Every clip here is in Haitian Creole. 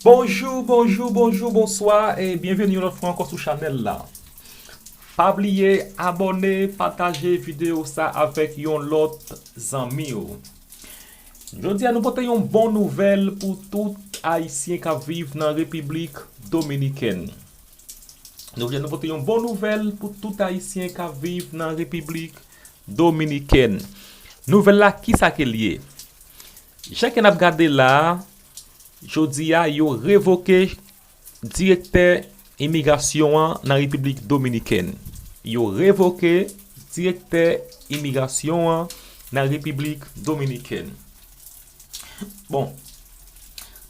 Bonjou bonjou bonjou bonswa e byenveni yon lòt fwa ankò sou chanèl la pa bliye abòne pataje videyo sa avèk yon lòt zanmiw jodi a nou pote yon bon nouvèl pou tout ayisyen kap viv nan repiblik dominikèn jodi a nou pote yon bon nouvèl pou tout ayisyen kap viv nan repiblik dominikèn nouvèl la kisa ke li ye Jan ke nap gade la a, jodi a yo revoke direktè imigrasyon an nan Repiblik Dominikèn. Yo revoke direktè imigrasyon an nan Repiblik Dominikèn. Bon,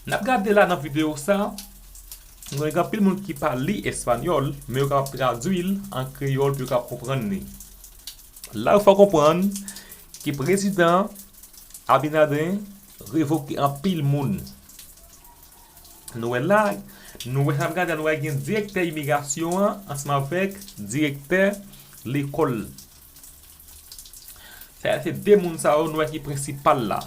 nap gade la nan videyo sa, nou wè gen anpil moun ki pa li espanyòl, men yo kapab tradui l an kreyòl pou yo kapab konprann li. La ou fè konprann, Ke prezidan Abinader revoke anpil moun. Nou wè la, nou wè sa ap gade la, nou wè gen direktè imigrasyon an ansanm avèk direktè lekòl. Sa se 2 moun sa yo nou wè ki prensipal la.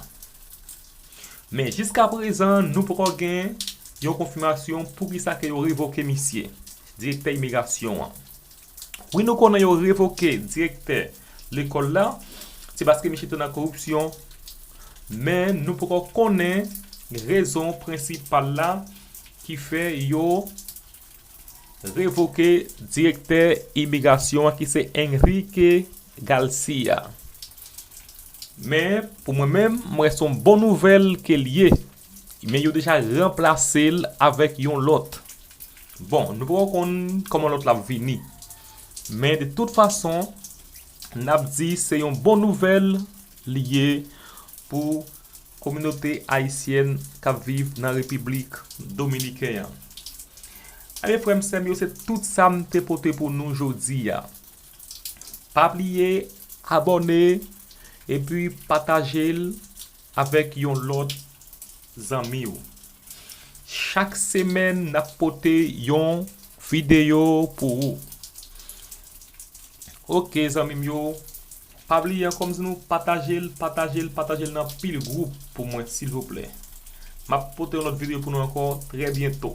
Men jiska prezan nou poko gen yon konfimasyon poukisa ke yo revoke misye, direktè imigrasyon an. Wi nou konnen yo revoke direktè lekòl la se paske misye te nan koripsyon men nou poko konnen rezon prensipal la ki fè yo revoke direktè imigrasyon an ki se Enrique Garcia men pou mwen menm m wè son bon nouvèl ke l ye Men yo deja ranplase l avèk yon lòt. Bon, nou poko konn kòman lòt la ap vini. Men de tout fason, n ap di se yon bon nouvèl li ye pou kominote ayisyèn k ap viv nan Repiblik Dominiken an. Enben, frè m, sè m yo, se tout sa m te pote pou nou jodi a. Pa bliye abòne epi pataje l. Avèk yon lòt zanmi ou. Chak semèn n ap pote yon videyo pou ou. Ok zanmi m yo, pa bliye ankò m di nou pataje l, pataje l, pataje l nan anpil gwoup pou mwen silvouplè. M ap pote yon lòt videyo pou nou ankò trè byento.